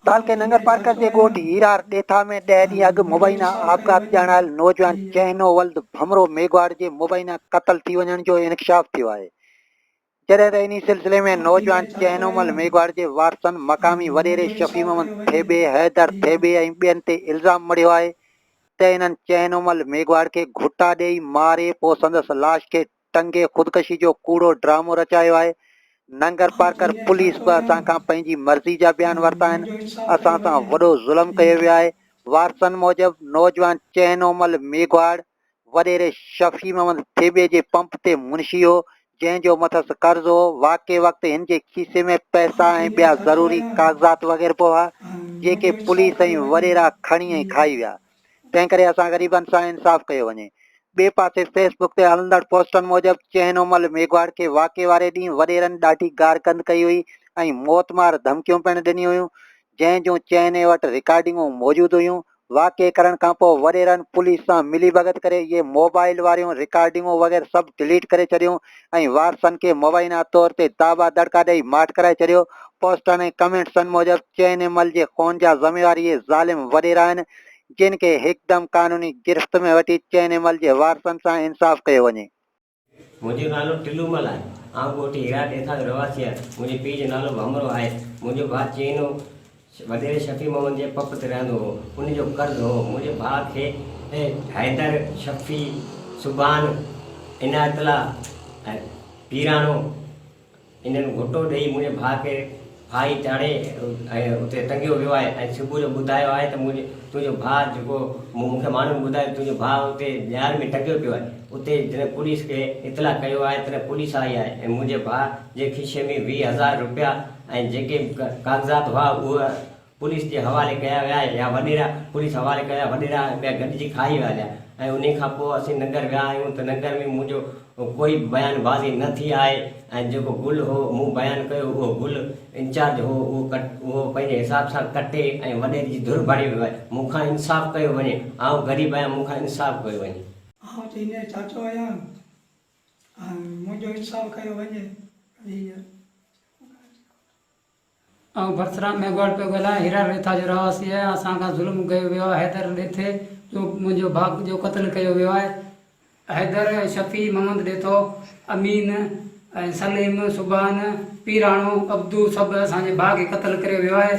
تعلقي ننگرپارڪر جي ڳوٺ هيرار ڏيٿا ۾ ڏهه ڏينهن اڳ مبينا آپگهات ڄاڻايل نوجوان چهنو ولد ڀمرو ميگهواڙ جي مبينا قتل ٿي وڃڻ جو انڪشاف ٿيو آهي. جڏهن ته انهي سلسلي ۾ نوجوان چينومل ميگهواڙ جي وارثن مقامي وڏيري شفيع محمد ٿيٻي، حيدر ٿيٻي ۽ ٻين تي الزام مڙهيو آهي ته انهن چينومل ميگهواڙ کي گهٽا ڏئي ماري پوء سندس لاش کي ٽنگي خودڪشي جو ڪوڙو ڊرامو رچايو آهي. ننگرپارڪر پوليس به اسان کان پنهنجي مرضي جا بيان ورتا آهن، اسان سان وڏو ظلم ڪيو ويو آهي، وارثن موجب نوجوان چينومل ميگهواڙ، وڏيري شفيع محمد ٿيٻي جي پمپ تي منشي هو، جنهن جو مٿس قرض هو. واقعي وقت هن جي کيسي ۾ پئسا ۽ ٻيا ضروري ڪاغذات وغيرپو هئا، جيڪي پوليس ۽ وڏيرا کڻي ۽ کائي ويا. تنهنڪري اسان غريبن سان انصاف ڪيو وڃي. ٻئي پاسي فيس بڪ تي هلندڙ پوسٽن موجب چهنو مل ميگهواڙ کي واقعي واري ڏينهن وڏيرن ڏاڍي گار گند ڪئي هئي ۽ موت مار ڌمڪيون پڻ ڏنيون هيون، جنهن جون چهني وٽ رڪارڊنگون موجود هيون. واقعي ڪرڻ کان پوء وڏيرن پوليس سان ملي ڀڳت ڪري اهي موبائيل واريون رڪارڊنگون وغيره سڀ ڊليٽ ڪري ڇڏيون ۽ وارثن کي مبينا طور تي داٻا دڙڪا ڏئي ماٺ ڪرائي ڇڏيو. پوسٽن ۽ ڪمينٽسن موجب چين ايمل جي خون جا ذميوار اهي ظالم وڏيرا آهن جن کي هڪدم قانوني گرفت ۾ وٺي چين ايمل جي وارثن سان انصاف ڪيو وڃي. منهنجو نالو ٽلومل آهي. آئون ڳوٺ هيرا ڏيٿا جو رهواسي آهيان. منهنجي پيء جو نالو ڀمرو آهي. منهنجو ڀاء چينو وڏيري شفيع محمد جي پ پ تي رهندو هو. ان جو قرض هو. منهنجي ڀاء کي حيدر، شفيع، سبحان، عنايت الله ۽ پيراڻو هنن گهوٽو ڏيئي منهنجي ڀاء کي ڦاهي چاڙهي ۽ اتي ٽنگيو ويو آهي ۽ صبح جو ٻڌايو آهي ته منهنجي تنهنجو ڀاء جيڪو مون کي ماڻهن ٻڌايو تنهنجو ڀاء اتي ڄار ۾ ٽنگيو پيو آهي اتي جڏهن پوليس کي اطلاع ڪيو آهي تڏهن پوليس آئي آهي ۽ منهنجي ڀاء جي کيسي ۾ ويهه هزار روپيا ۽ جيڪي به ڪاغذات هئا اهي پوليس جي حوالي ڪيا ويا يا وڏيرا پوليس حوالي ڪيا وڏيرا ۽ ٻيا گڏجي کائي ويا هليا ۽ انهي کان پوء اسين ننگر ويا آهيون ته ننگر ۾ منهنجو ڪوئي بيان بازي نه ٿي آهي ۽ جيڪو گل هو مون بيان ڪيو اهو گل انچارج هو اهو اهو پنهنجي حساب سان ڪٽي ۽ وڏيري جي ڌر بڻي ويو آهي مون کان انصاف ڪيو وڃي آئون غريب آهيان مون کان انصاف ڪيو وڃي. آئون ته هينئر چاچو آهيان ۽ منهنجو انصاف ڪيو وڃي. هينئر آئون ڀرترام ميگهواڙ پيو ڳالهايان، هيرا ريٿا جو رهواسي آهيان، اسان کان ظلم ڪيو ويو آهي، حيدر ڏيٿي جو منهنجو ڀاء جو قتل ڪيو ويو آهي، حيدر، شفيع، محمد ڏيٿو، امين ۽ سليم، سبحان، پيراڻو، عبدو سڀ اسان جي ڀاء کي قتل ڪريو ويو آهي.